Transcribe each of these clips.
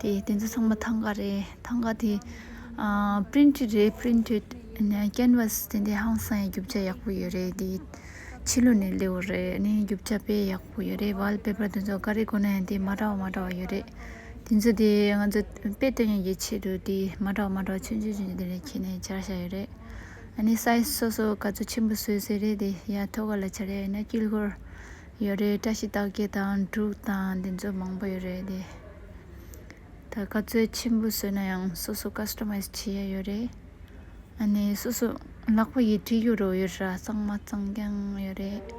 དེ་དེ་ཚོ་ཚང་མ་ཐང་ག་རེད་ཐང་ག་དེ printed རེད printed canvas དེ་འདྲའི་ཧང་སང་ཡི་རྒྱུ་ཆ་ཡག་པོ་ཡོད་རེད་དེ་ཕྱི་ལོ་ནས་ལེའོ་རེད་ནས་རྒྱུ་ཆ་དཔེ་ཡག་པོ་ཡོད་རེད་བལ་པེ་པར་དེ་ཚོ་ག་རེ་གོ་ན་ཡང་དེ་མ་འདྲ་བ་མ་འདྲ་བ་ཡོད་རེད་དེ་ཚོ་དེ་ང་ཚོ་དཔེ་སྟོན་ཡག་གི་ཆེད་དུ་དེ་མ་འདྲ་བ་མ་འདྲ་བ་ཆུང་ཆུང་ཆུང་ཆུང་དེ་རེ་ཁྱེར་ནས་བྱར་བཞག་ཡོད་རེད་ཨ་ནི size སོ་སོ་ག་ཚོད་ཆེན་པོ་བཟོས་ཟེར་རེད་དེ་ཡ་ཐོ་ག་ལ་བྱར་ཡ་ཡིན་ན་དཀྱིལ་འཁོར་ཡོད་རེད་བཀྲ་ཤིས་རྟགས་བརྒྱད་དང་དྲུག་དང་དེ་ཚོ་མང་པོ་ཡོད་རེད་དེ་ད་ག་ཚོད་ཆེན་པོ་བཟོས་ན་ཡང་སོ་སོ Customise བྱེད་ཡ་ཡོད་རེད་ཨ་ནི་སོ་སོ་ལག་པ་ཡིས་བྲིས་རྒྱུ་རོ་ཡོད་ར་གཙང་མ་གཙང་རྐྱང་ཡོད་རེད་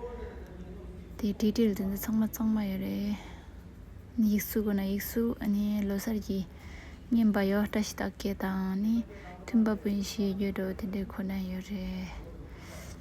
དེ་བྲིས་བྲིས་ལ་དེ་ཚོ་ཚང་མ་གཙང་མ་ཡོད་རེད་ཡིག་གཟུགས་དགོས་ན་ཡིག་གཟུགས་ཨ་ནི་ལོ་གསར་གྱི་བརྙན་པ་ཡོད་བཀྲ་ཤིས་རྟགས་བརྒྱད་དང་ནི་མཐུན་པ་པོ་ཡིན་ཞེས་བརྗོད་འགྲོ་དེ་འདྲའི་ཁོ་ན་ཡོད་རེད།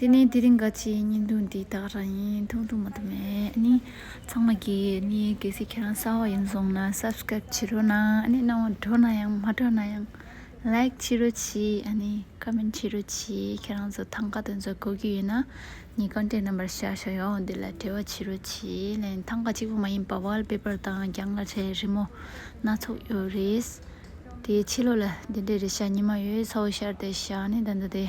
དེ་ནས་དེ་རིང་ག་ཅིའི་བརྙན་ཐུང་འདི་དག་རང་ཡིན་མཐོང་ཐུབ་མ་ཐུབ་མེད་ནི་ཚང་མ་གི་ནི་གལ་སྲིད་ཁྱེད་རང་གསར་བ་ཡིན་སོང་ན subscribe བྱེད་རོགས་གནང་ནི་གནང་བ་འགྲོ་ན་ཡང་མ་འགྲོ་ན་ཡང like བྱེད་རོགས་གྱིས་ནི comment བྱེད་རོགས་གྱིས་ཁྱེད་རང་ཚོ་ཐང་ག་དེ་ཚོ་གོ་གི་ཡོད་ན་ནི contact number བཤར་ཤོག་ཡོང་འདི་ལ་འབྲེལ་བ་བྱེད་རོགས་གྱིས་ལན་ཐང་ག་གཅིག་པོ་མ་ཡིན་པ་བལ་པེཔར་དང་རྒྱང་གླ་ཆའི་རི་མོ་སྣ་ཚོགས་ཡོད་རེད་དེ་ཕྱི་ལོགས་ལ་འདི་འདྲའི་རི་ཤ་ཉི་མ་ཡོད་ཚོ་བཤར་ཏེ་བཞག་ནི་ད་འདི་དེ།